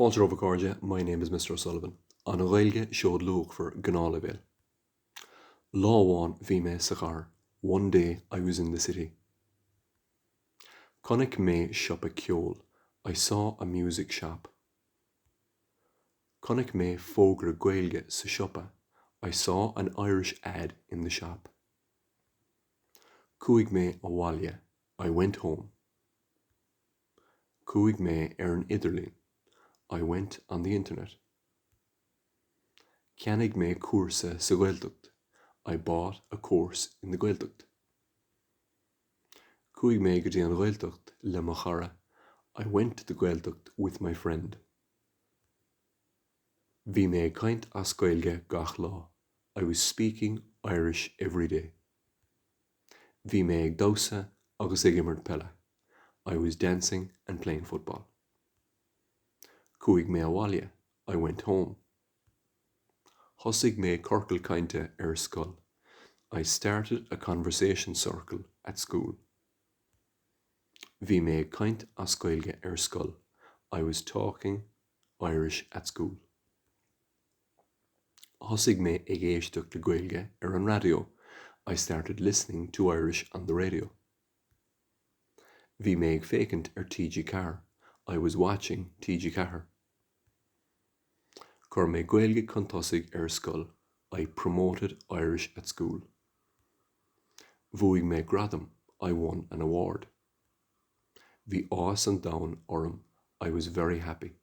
Fáilte romhaibh a chairde, my name is Mr O'Sullivan. An Ghaeilge, seoid luachmhar, gnáthleibhéal. Lá amháin bhí mé sa chathair One day I was in the city. Chonaic mé siopa ceoil I saw a music shop. Chonaic mé fógra Gaeilge sa siopa I saw an Irish ad in the shop. Chuaigh mé abhaile I went home. Chuaigh mé ar an idirlíon, I went on the internet. Cheannaigh mé cúrsa sa Ghaeltacht, I bought a course in the Gaeltacht. Chuaigh mé go dtí an Ghaeltacht le mo chara, I went to the Gaeltacht with my friend. Bhí mé ag caint as Gaeilge gach lá, I was speaking Irish every day. Bhí mé ag damhsa agus ag imirt peile. I was dancing and playing football. Chuaigh mé abhaile. I went home. Thosaigh mé ciorcal cainte ar scoil. I started a conversation circle at school. Bhí mé ag caint as Gaeilge ar scoil. I was talking Irish at school. Thosaigh mé ag éisteacht le Gaeilge ar an raidió, I started listening to Irish on the radio. Bhí mé ag féachaint ar TG4, I was watching TG4. Chuir mé Gaeilge chun tosaigh ar scoil, I promoted Irish at school. Bhuaigh mé gradam, I won an award. Bhí áthas an domhain orm, I was very happy.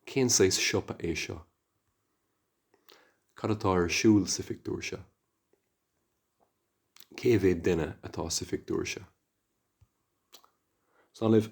Cén saghas siopa é seo? Cad atá ar siúl sa phictiúr seo? Cé mhéad duine atá sa phictiúr seo? San uimh.